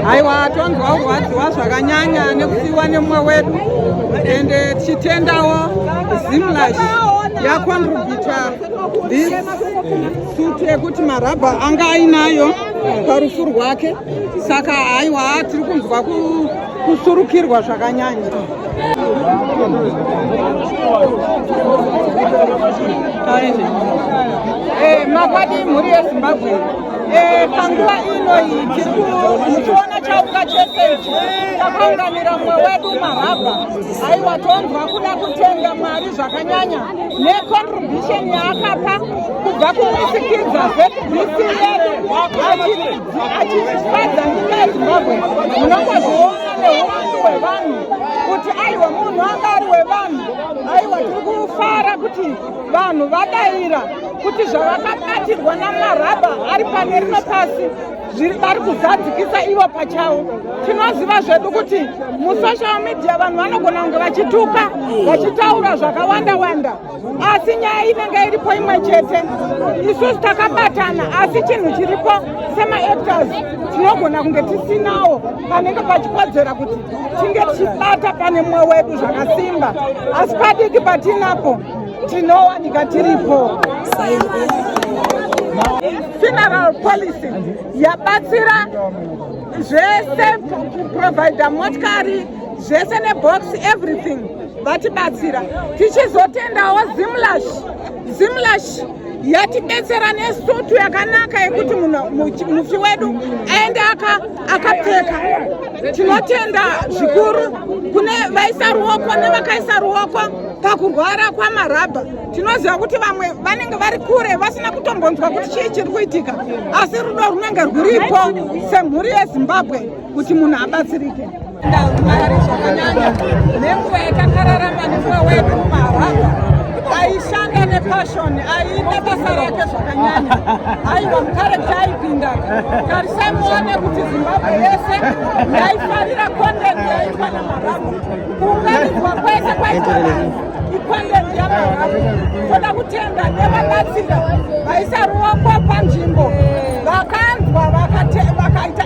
aiwa tonzwa kurwadziwa zvakanyanya nekusiwa nemumwe wedu ende tichitendawo zimlash yakontribita this sut yekuti marabha anga ainayo parufu rwake saka aiwa tiri kunzwa ku kusurukirwa zvakanyanya eh, makwadi mhuri yezimbabwe eh, panguva inoyi tiri muchiona chauka chese ichi takaunganira mumwe wedu marabha aiwa tonzwa kuda kutenga mwari zvakanyanya necontribution yaakapa kubva kumusikidza zbc yedu achitibadza nyika yezimbabwe munongozviona neuwandu hwevanhu kuti aiwa munhu anga ari wevanhu aiwa tiri kufara kuti vanhu vadaira kuti zvavakabatirwa namarabha ari pane rino pasi zviri vari kuzadzikisa ivo pachavo tinoziva zvedu kuti musocial media vanhu vanogona kunge vachituka vachitaura zvakawanda wanda asi nyaya inenge iripo imwe chete isusu takabatana asi chinhu chiripo semaactors tinogona kunge tisinawo panenge pachikodzera kuti tinge tichibata pane mwoyo wedu zvakasimba asi padiki patinapo tinowanika tiripo funeral policy yabatsira zvese kuprovidha motikari zvese nebox everything vatibatsira tichizotendawo zimlash zimlash yatibetsera nesutu yakanaka yekuti mufi wedu aende akapfeka tinotenda zvikuru kune vaisa ruoko nevakaisa ruoko pakurwara kwamarabha tinoziva kuti vamwe vanenge vari kure vasina kutombonzwa kuti chii chiri kuitika asi rudo runenge rwuripo semhuri yezimbabwe kuti munhu abatsirike ndamari zvakanyanya nenguva yatakararama nenguva wedu mumaharabha aishanda nepashoni aiita basa rake zvakanyanya aiwa mukare taipinda tarisai muone kuti zimbabwe yese yaifarira content yaitwa namaharabha kuunganidzwa kwese kwaitwa vanhu icontent yamaharabha toda kutenda nevabatsira vaisa ruoko panzvimbo vakanzwa vakaita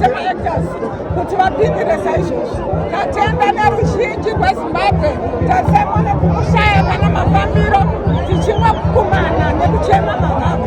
semaactors kuti vapindire saizvozvi tatenda neruzhinji rwezimbabwe tasemwa nekukushaya kana mafambiro tichimwa kukumana nekuchema mavavo